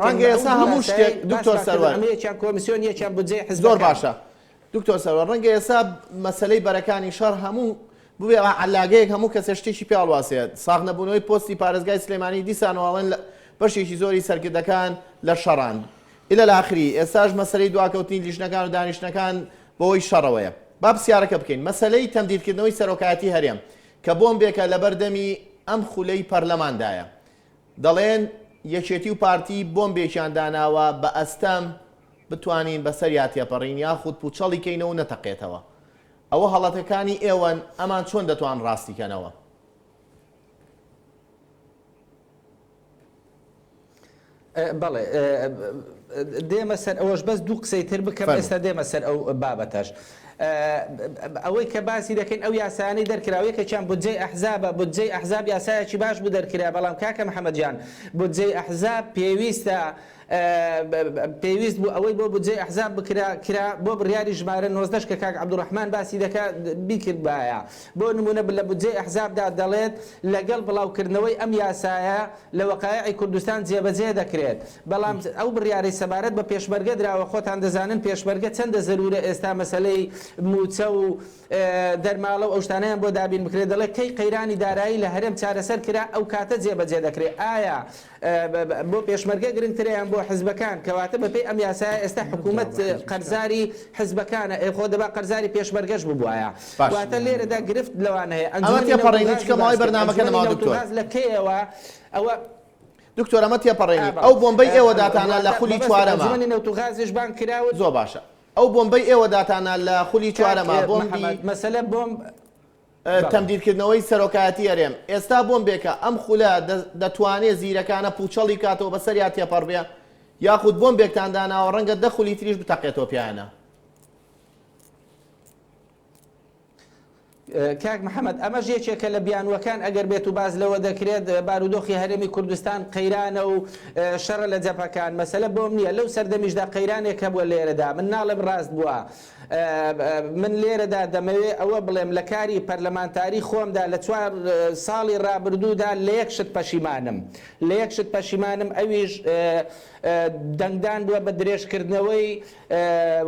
ڕەنگە ئێستا هەموو شتێک دکتۆر سەروەر ئەمە یەکیان کۆمسیۆن یەکیان بودجەی حزب زۆر باشە دکتۆر سەروەر ڕەنگە ئێستا مەسەلەی بەرەکانی شەڕ هەموو بوێ عەللاگەیەک هەموو کەسێ شتێکی پێ هەڵواسێت ساغ نەبوونەوەی پۆستی پارێزگای سلێمانی دیسانەوە ئەڵێن بەشێکی زۆری سەرکردەکان لە شەڕان ئیلە لاخری ئێستاش مەسەلەی دواکەوتنی لیژنەکان و دانیشتنەکان بەوەی شەڕەوەیە با پرسیارەکە بکەین مەسەلەی تەمدیدکردنەوەی سەرۆکایەتی هەرێم کە بۆمبێکە لەبەر دەمی ئەم خولەی پەرلەماندایە. دەڵێن یەکێتی و پارتی بۆمبێکیان داناوە بە ئەستەم بتوانین بەسەریا تێپەڕین یاخود پوچەڵی کەینەوە و نەتەقێتەوە. ئەوە هەڵەکەکانی ئێوەن ئەمان چۆن دەتوان ڕاستی کەنەوە. بەڵێ دێمە سەر ئەوەش بەس دوو قسەی تر بکەم ئێستا دێمە سەر ئەو بابەتەش ئەوەی کە باسی دەکەین ئەو یاسانەی دەرکراوە یەکێکیان بودجەی ئەحزابە بودجەی ئەحزاب یاسایەکی باش بوو دەرکرا بەڵام کاکە محەممەدیان بودجەی ئەحزاب پێویستە پێویست بوو ئەوەی بۆ بودجەی ئەحزاب بکرا کرا، بۆ بڕیاری ژمارە نۆزدە ش کە کاک عەبدولڕەحمان باسی دەکا بیکردبایە. بۆ نموونە لە بودجەی ئەحزابدا دەڵێت لەگەڵ بڵاوکردنەوەی ئەم یاسایە لە وەقایعی کوردستان جێبەجێ دەکرێت، بەڵام ئەو بڕیارەی سەبارەت بە پێشمەرگە دراوە، خۆتان دەزانن پێشمەرگە چەندە زەروورە ئێستا مەسەلەی مووچە و دەرماڵە و ئەو شتانەیان بۆ دابین بکرێت، دەڵێت کەی قەیرانی دارایی لە هەرێم چارەسەر کرا ئەو کاتە جێبەجێ دەکرێت، ئایا بۆ پێشمەرگە گرنگترە یان بۆ حزبەکان کەواتە بەپێی ئەم یاسایە ئێستا حکومەت قەرزاری حزبەکانە ئەی خۆ دەبا قەرزاری پێشمەرگەش ببوایە واتە لێرەدا گرفت لەوان هەیە ئەنجومەنی نەوت و غاز باس کرد ئەنجومەنی نەوت و غاز لە کەیەوە ئەوە دکتۆر ئەمە تێپەڕێنی ئەو بۆمبەی ئێوە داتانە لە خولی چوارەمە ئەنجومەنی نەوت و غازیش بانگ کراون زۆر باشە ئەو بۆمبەی ئێوە داتانە لە خولی چوارەمە بۆمبی کاک مەهەمەت مەسەلە بۆمب تەمدیدکردنەوەی سەرۆکایەتی هەرێم، ئێستا بۆمبێکە، ئەم خولە دەتوانێت زیرەکانە پووچەڵی بکاتەوە بەسەریا تێپەڕبێ، یاخود بۆمبێکتان داناوە ڕەنگە دە خولی تریش بتەقێتەوە پیانە. کاک محەمەد ئەمەش یەکێکە لە بیانووەکان ئەگەر بێت و باس لەوە دەکرێت بارودۆخی هەرێمی کوردستان قەیرانە و شەڕە لە جەپەکان مەسەلە بۆم نییە لەو سەردەمیشدا قەیرانێک هەبووە لێرەدا من ناڵێم ڕاست بووە من لێرەدا دەمەوێ ئەوە بڵێم لە کاری پەرلەمانتاری خۆمدا لە چوار ساڵی ڕابردوودا لە یەک شت پەشیمانم لە یەک شت پەشیمانم ئەویش دەنگدان بووە بە درێژکردنەوەی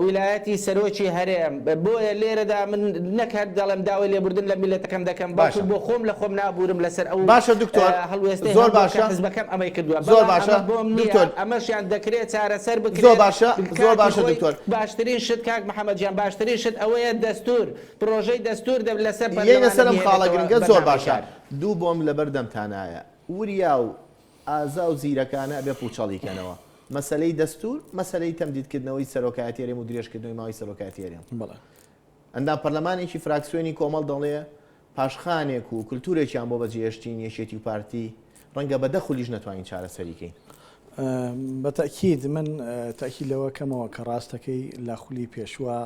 ویلایەتی سەرۆکی هەرێم بۆیە لێرەدا من نەک هەر دەڵێم داوای لێبوردن لە میلەتەکەم دەکەم باش بۆ خۆم لە خۆم نابورم لەسەر ئەو باشە دکتۆر هەڵوێستە زۆر باشە حزبەکەم ئەمەی کردووە زۆر باشە بۆم نیە ئەمەشیان دەکرێت چارەسەر بکرێت زۆر باشە زۆر باشە دکتۆر باشترین شت کاک محمد جان باشترین شت ئەوەیە دەستور پرۆژەی دەستور دە لەسەر یەینە پەرلەمانە سەرم خاڵە بیێنێتەوە گرنگە زۆر بەرنامەی باشە کار. دوو بۆمب لەبەر دەمتانایە وریا و ئازا و زیرەکانە ئەبێ پوچەڵی کەنەوە مەسەلەی دەستور مەسەلەی تەمدید کردنەوەی سەرۆکایەتی هەرێم و درێژ کردنەوەی ماوەی سەرۆکایەتی هەرێم بەڵێ. ئەندام پەرلەمانێکی فراکسیۆنی کۆمەڵ دەڵێ پاشخانێک و کلتورێکیان بۆ بەجێهێشتین یەکێتی و پارتی رەنگە بە دە خولیش نەتوانین چارەسەری کەین. بە تەئکید من تەئکید لەوە کەمەوە کە راستەکەی لە خولی پێشوە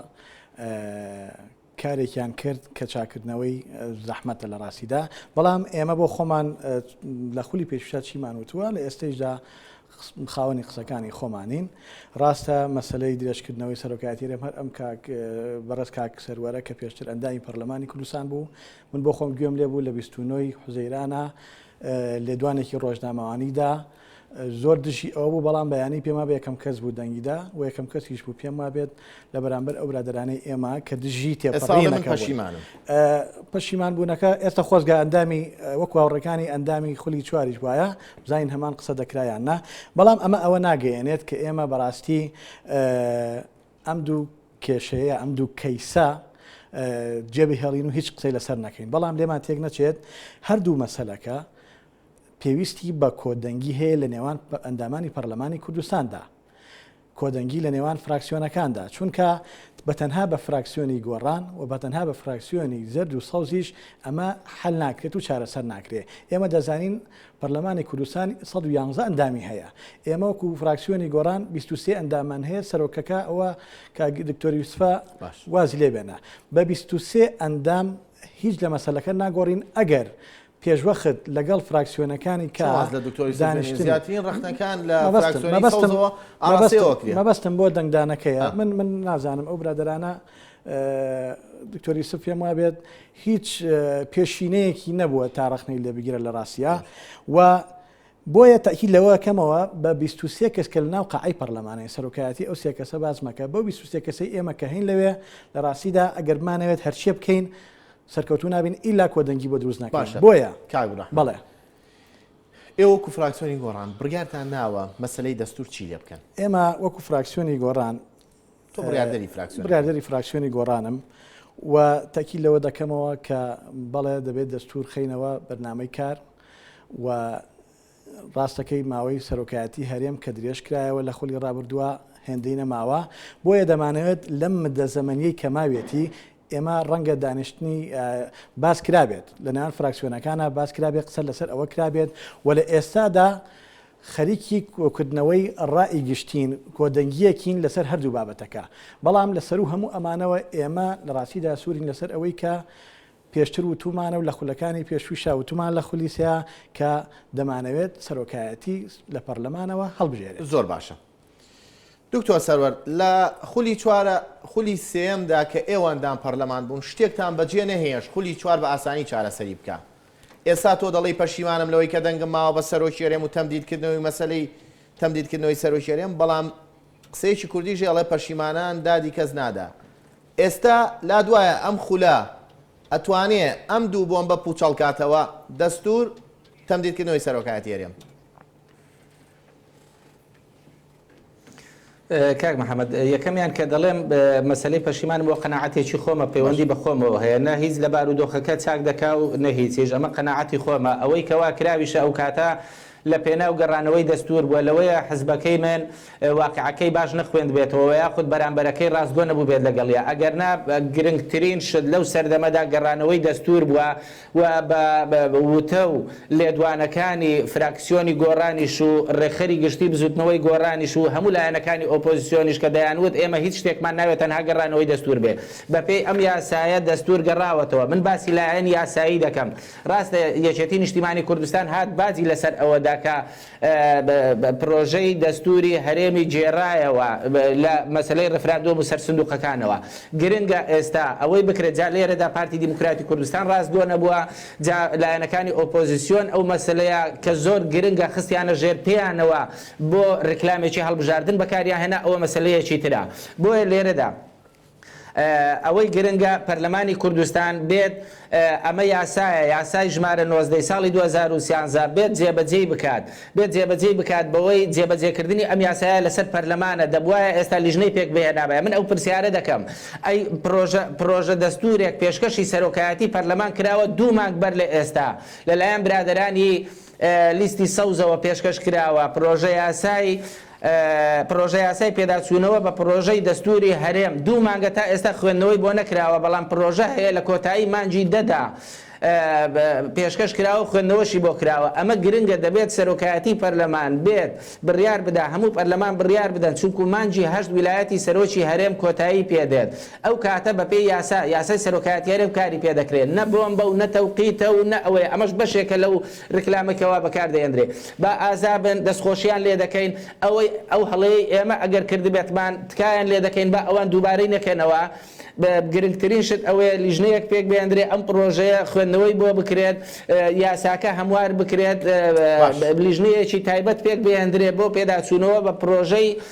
کارێکیان کرد کە چاکردنەوەی زەحمەتە لە راستیدا بەڵام ئێمە بۆ خۆمان لە خولی پێشوشا چیمان وتووە لە ئێستەیشدا خاوەنی قسەکانی خۆمانین ڕاستە مەسەلەی درێژکردنەوەی سەرۆکایەتی رێم هەر ئەم کاک بەڕێز کاک سەروەرە کە پێشتر ئەندامی پەرلەمانی کوردستان بوو من بۆ خۆم گوێم لێ بوو لە 29 حوزەیرانە لێدوانێکی ڕۆژنامەوانیدا زۆر دژی ئەو بوو بەڵام بەیانی پێما بە یەکەم کەس بوو دەنگیدا و یەکەم کەسیش بوو پێم وابێت لە بەرامبەر ئەو برادرانەی ئێمە کە دژی تێپەڕینەکەشیمان پەشیمان بوونەکە ئێستا خۆزگە ئەندامی وەکو هاوڕەکانی ئەندامی خولی چواریش وایە بزانین هەمان قسە دەکرا یان نا، بەڵام ئەمە ئەوە ناگەیەنێت کە ئێمە بەڕاستی ئەم دوو کێشەیە، ئەم دوو کەیسە جێبهێڵین و هیچ قسەی لەسەر نەکەین، بەڵام لێمان تێک نەچێت هەردوو مەسەلەکە پێویستی بە کۆدەنگی هەیە لە نێوان ئەندامانی پەرلەمانی کوردستاندا. کۆدەنگی لە نێوان فراکسیۆنەکاندا، چونکە بە تەنها بە فراکسیۆنی گۆڕان و بە تەنها بە فراکسیۆنی زەرد و سەوزیش ئەمە حەل ناکرێت و چارەسەر ناکرێت. ئێمە دەزانین پەرلەمانی کوردستان سەد و یانزە ئەندامی هەیە، ئێمە وەکو فراکسیۆنی گۆڕان بیست و سێ ئەنداممان هەیە، سەرۆکەکە ئەوە کاک دکتۆر یوسفە وازی لێ بێنە. بە بیست و سێ ئەندام هیچ لە مەسەلەکە ناگۆڕین، ئەگەر پێشوەخت لەگەڵ فراکسیۆنەکانی کا دانیشتن مەبەستم بۆ دەنگدانەکەیە من من نازانم ئەو برادرانە دکتۆری سف پێم وابێت هیچ پێشینەیەکی نەبووە تا ڕخنەی لێ بگیرە لە ڕاستە و بۆیە تاکی لەوە کەمەوە بە 23 کەس کە لە ناو قعی پەرلەمانەی سەرۆکایەتی ئەو سێ کەسە باسمەکە بۆ 23 کەسی ئێمە کە هەین لەوێ لە ڕاستیدا ئەگەرمانەوێت هەرچیە بکەین سەرکەوتوو نابین ئیلا کۆدەنگی بۆ دروست ناکەین باشە بۆیە کاک براحمە بەڵێ ئێوە وەکو فراکسیۆنی گۆڕان بڕیارتان ناوە مەسلەی دەستور چی لێ بکەن ئێمە وەکو فراکسیۆنی گۆڕان تۆ بڕیاردەری فراکسیۆن بڕیاردەری فراکسیۆنی گۆڕانم و تاکی لەوە دەکەمەوە کە بەڵێ دەبێت دەستور خینەوە بەرنمەی کار و ڕاستەکەی ماوەی سەرۆکایەتی هەرێم کە درێژکرایەوە لە خولی ڕابردووە هێندەی نەماوە، بۆیە دەمانەوێت لەم مدە زەمەنیەی کە ماویەتی ئێمە ڕەنگە دانیشتنی باس کرابێت لە نێوان فراکسیۆنەکانە باس کرابێت قسە لەسەر ئەوە کرابێت و لە ئێستادا خەریکی کۆکردنەوەی ڕائی گشتین کۆدەنگیەکین لەسەر هەردوو بابەتەکە بەڵام لەسەر و هەموو ئەمانەوە ئێمە لە ڕاستیدا سوورین لەسەر ئەوەی کە پێشتر وتومانە و لە خولەکانی پێشوویشا وتومان لە خولی سێا کە دەمانەوێت سەرۆکایەتی لە پەرلەمانەوە هەڵبژێرێت. زۆر باشە دکتۆر سەروەر، لە خولی چوارە خولی سێیەمدا کە ئێوان دان پەرلەمان بوون شتێکتان بەجێ نەهێشت خولی چوار بە ئاسانی چارەسەری بکا. ئێستا تۆ دەڵێی پەشیمانم لەوەی کە دەنگم ماوە بە سەرۆکی هەرێم و تەمدیدکردنەوەی مەسەلەی تەمدیدکردنەوەی سەرۆکی هەرێم، بەڵام قسەیەکی کوردیش ئەڵێ پەشیمانان دادی کەس نادا ئێستا لات وایە ئەم خولە ئەتوانێ ئەم دوو بۆمبە پوچەڵ کاتەوە دەستور تەمدید کردنەوەی سەرۆکایەتی هەرێم. کاک محەممەد یەکەمیان کە دەڵێم مەسلەی پەشیمانم بۆ قەنەعاتێکی خۆمە پەیوەندی بە خۆمەوە هەیە نە هیچ لە بارودۆخەکە چاک دەکا و نە هیچیش ئەمە قەنەعاتی خۆمە ئەوەی کەوا کراویشە ئەو کاتە لە پێناو گەڕانەوەی دەستوور بووە، لەوەیە حزبەکەی من واقیعەکەی باش نەخوێندبێتەوە وە یاخود بەرامبەرەکەی ڕاستگۆ نەبووبێت لەگەڵیا، ئەگەرنا گرنگترین شت لەو سەردەمەدا گەڕانەوەی دەستوور بووە و بە وتە و لێدوانەکانی فراکسیۆنی گۆڕانیش و ڕێکخەری گشتی بزوتنەوەی گۆڕانیش و هەموو لایەنەکانی ئۆپۆزسیۆنیش کە دەیانوت ئێمە هیچ شتێکمان ناوێت تەنها گەڕانەوەی دەستوور بێت بەپێی ئەم یاسایە دەستوور گەڕاوەتەوە، من باسی لایەنی یاسایی دەکەم. راستە یەکێتی نیشتیمانی کوردستان هات باجی لەسەر ئەوە دا کە پرۆژەی دەستوری هەرێمی گێرایەوە لە مەسەلەی ریفراندۆم و سەر سندوقەکانەوە گرنگە ئێستا ئەوەی بکرێت جا لێرەدا پارتی دیموکراتی کوردستان راستگۆ نەبوە جا لایەنەکانی ئۆپۆزسیۆن ئەو مەسەلەیە کە زۆر گرنگە خستیانە ژێر پێیانەوە بۆ ریکلامێکی هەڵبژاردن بەکاریان هێنا ئەوە مەسەلەیەکی ترە بۆیە لێرەدا ئەوەی گرنگە پەرلەمانی کوردستان بێت ئەمە یاسایە، یاسای ژمارە نۆزدە ی ساڵی دوو هەزار و سیانزە بێت جێبەجێی بکات، بێت جێبەجێی بکات بەوەی جێبەجێکردنی ئەم یاسایە لەسەر پەرلەمانە، دەبوایە ئێستا لیژنەی پێکبهێنابایە، من ئەو پرسیارە دەکەم ئەی پرۆژە پرۆژە دەستوورێک پێشکەشی سەرۆکایەتی پەرلەمان کراوە دوو مانگ بەر لە ئێستا لەلایەن برادەرانی لیستی سەوزەوە پێشکەش کراوە، پرۆژەیاسای پرۆژەیاسای پێداچوونەوە بە پرۆژەی دەستووری هەرێم دوو مانگە تا ئێستا خوێندنەوەی بۆ نەکراوە، بەڵام پرۆژە هەیە لە کۆتایی مانگی دە دا پێشکەش کراوە و خوێندنەوەشی بۆ کراوە، ئەمە گرنگە دەبێت سەرۆکایەتی پەرلەمان بێت بڕیار بدا هەموو پەرلەمان بڕیار بدەن چونکوو مانگی هەشت ویلایەتی سەرۆکی هەرێم کۆتایی پێ دێت، ئەو کاتە بە پێی یاسا، یاسای سەرۆکایەتیارێ و کاری پێ دەکرێ، نە بۆمبە و نە تەوقیتە و نە ئەوەیە، ئەمەش بەشێکە لەو ریکلامەی کە وا بە کار دەهێندرێ. با ئازا بن، دەستخۆشییان لێ دەکەین، ئەوەی، ئەو هەڵەیەی ئێمە ئەگەر کردبێتمان، تکایان لێ دەکەین با ئەوان دووبارەی نەکەنەوە. گرنگترین شت ئەوەیە لیژنەیەک پێک بهێندرێ، ئەم پڕۆژەیە خوێندنەوەی بۆ بکرێت، یاساکە هەموار بکرێت، باش. لیژنەیەکی تایبەت پێک بهێندرێ بۆ پێداچوونەوە بە پڕۆژەی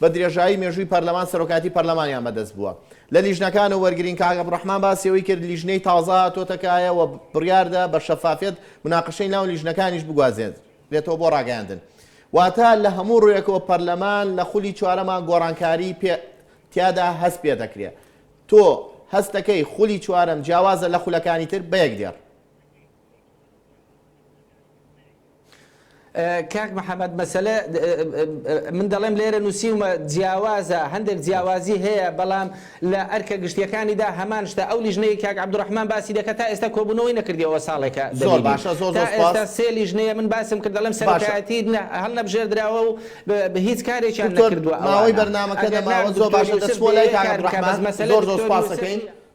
بە درێژایی مێژووی پەرلەمان سەرۆکایەتی پەرلەمانیان بەدەست بووە لە لیژنەکان و وەرگرین کاک عەبدولڕەحمان باسی ئەوەی کرد لیژنەی تازە هاتۆتە کایە و بڕیاردا بە شەفافیەت مناقەشەی ناو لیژنەکانیش بگوازێنرێتەوە بۆ ڕاگەیاندن واتە لە هەموو ڕوویەکەوە پەرلەمان لە خولی چوارەمان گۆڕانکاری پێ تیادا هەست پێ دەکرێت تۆ هەستەکەی خولی چوارەم جیاوازە لە خولەکانی تر بە یەک دێڕ کاک محمد مەسەلە من دەڵێم لێرە نووسیومە جیاوازە هەندێک جیاوازی هەیە بەڵام لە ئەرکە گشتیەکانیدا هەمان شتە ئەو لیژنەیە کاک عبدڕحمان باسی دەکە تا ئێستا کۆبوونەوەی نەکردیەوە ساڵێکە زۆر باشە زۆر ئێستا سێ لیژنەیە من باسم کرد دەڵێم سەرکایەتی هەڵ نەبژێردراوە و بە هیچ کارێکیان نەکردووە ئەوەی بەرنمەکە دەماوە زۆر باشە دەست بۆ لای کاک عبدڕحمان مەسەلە زۆر زۆر سپاسەکەین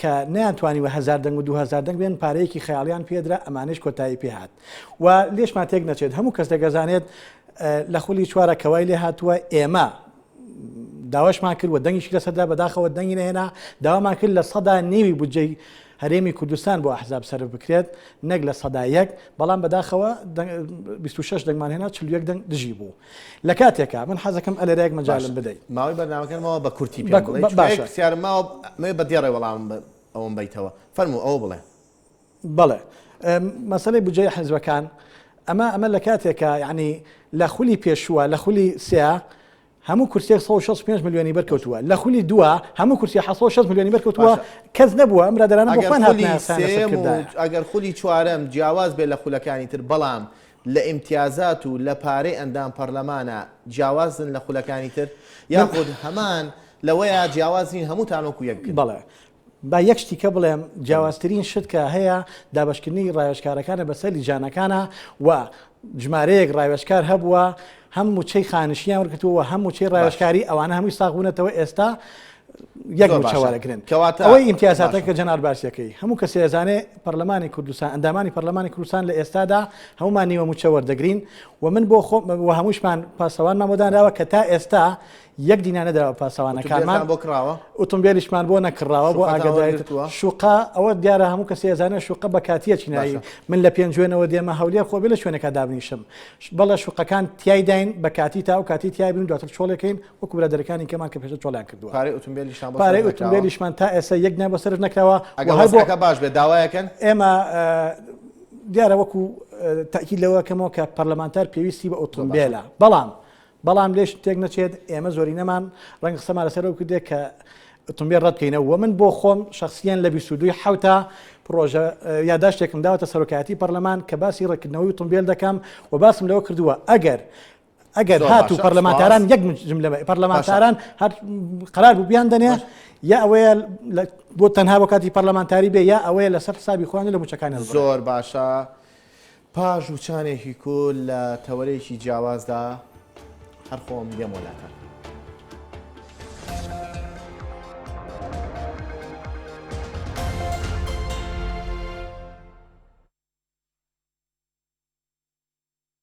کە نەیانتوانی بە هەزار دەنگ و دوو هەزار دەنگ بێن پارەیەکی خەیاڵیان پێدرا ئەمانەیش کۆتایی پێهات و لێشمان تێک نەچێت هەموو کەس دەگەزانێت لە خولی چوارە کەوای لێ هاتووە ئێمە داواشمان کرد و دەنگیش لەسەدا بەداخەوە دەنگی نهێنا داوامان کرد لە سەدا نێوی بودجەی هەرێمی کوردستان بۆ ئەحزاب سەر بکرێت نەک لە سەدا یەک بەڵام بەداخەوە 26 دەنگمان هێنا چ یەک دەنگ دژی بوو لە کاتێکا من حەزەکەم ئەلێرایەک مەجالم بدەی. ماوەی بەرنامەکەنمەوە بە کورتی پێم بڵێ چونکە یەک پرسیارم ماوە مەوێ بە دێڕێ وەڵامم ئەوەم بەیتەوە فەرموو ئەوە بڵێ. بەڵێ مەسەلەی بودجەی حیزبەکان ئەمە ئەمە لە کاتێکا یعنی لە خولی پێشووە لە خولی سێا هەموو کورسێک 165 ملیۆنی بەرکەوتووە لە خولی دووە هەموو کورسی 16 ملیۆنی بەرکەوتووە کەس نەبووە ئەم رادرانەگەر خولی چوارم جیاواز بێ لە خولەکانی تر بەڵام لە ئیمتیازات و لە پارەی ئەندام پەرلەمانا جیاوازن لە خولەکانی تر؟ یاخود هەمان لەوەیە جیاواز نین هەمووتان وەکو یەک بن؟ بەڵێ. با یەک شتیکە بڵێم، جیاوازترین شت کە هەیە دابەشکردنی ڕاوێژکارەکانە بەسەر لیژانەکانا و ژمارەیەک ڕاوێژکار هەبووە هەم موچەی خانشیان وەرگرتووە و هەم موچەی ڕاوێژکاری، ئەوانە هەمووی ساغ بوونەتەوە ئێستا یەک زۆر موچە باشە وەرەگرن. کەواتە ئەوەی ئیمتیازاتە باشە کە جەنار باسی دەکەی، هەموو کەسێ ئەزانێ پەرلەمانی کوردستان، ئەندامانی پەرلەمانی کوردستان لە ئێستادا هەموومان نیوە موچە وەردەگرین و من بۆ خۆم و هەمووشمان پاسەوانمان بۆ دانراوە کە تا ئێستا یەک دینار نەدراوە بە پاسەوانەکانمان، ئوتومبێلیشمان بۆ نەکڕاوە بۆ ئاگادایەتەوە شوقە ئەوە دیارە هەموو کەسی ئەزانێت شوقە بە کاتیە چینایی من لە پێنجوێنەوە دێمە هەولێر خۆ بێ لە شوێنەکە دابنیشم بەڵە شوقەکان تایداین بە کاتی تا و کاتی تای بن دواتر چۆڵەکەین وەکو لە دەرەکانی کەمان کە پێشە چۆڵیان کردووە پارەی ئوتومبێلیشمان تا ئێستا یەک نە بە سەرف نەکراوە ئەگەڵەکە باش بێ داوایەکەن ئێمە دیارە وەکو تاکی لەوەکەمەوە کە پەرلەمانتار پێویستی بە ئۆتۆمبیلە بەڵام بەڵام لێش تێک نەچێت ئێمە زۆرینەمان ڕەنگە قسەمان لەسەر ئەو کردێک کە ئۆتۆمبیل ڕەت بکەینەوە و من بۆ خۆم شخصیان لە 22 حوتا پرۆژە یاداشتێکم داوەتە سەرۆکایەتی پەرلەمان کە باسی ڕێکردنەوەی ئۆتۆمبیل دەکەم و باسم لەوە کردووە ئەگەر ئەگەر زۆر هات و باشە، پەرلەمانتاران سوپاس. یەک جملە بە- پەرلەمانتاران هەر قرار بوو بیان دەنێ یا ئەوەیە لە- بۆ تەنها بۆ کاتی پەرلەمانتاری بێ یا ئەوەیە لەسەر حسابی خۆیان لە موچەکانیان ببڕێ. زۆر باشە پاش وچانێکی کور لە تەوەرێکی جیاوازدا هەر خۆم دێمۆ لاتان.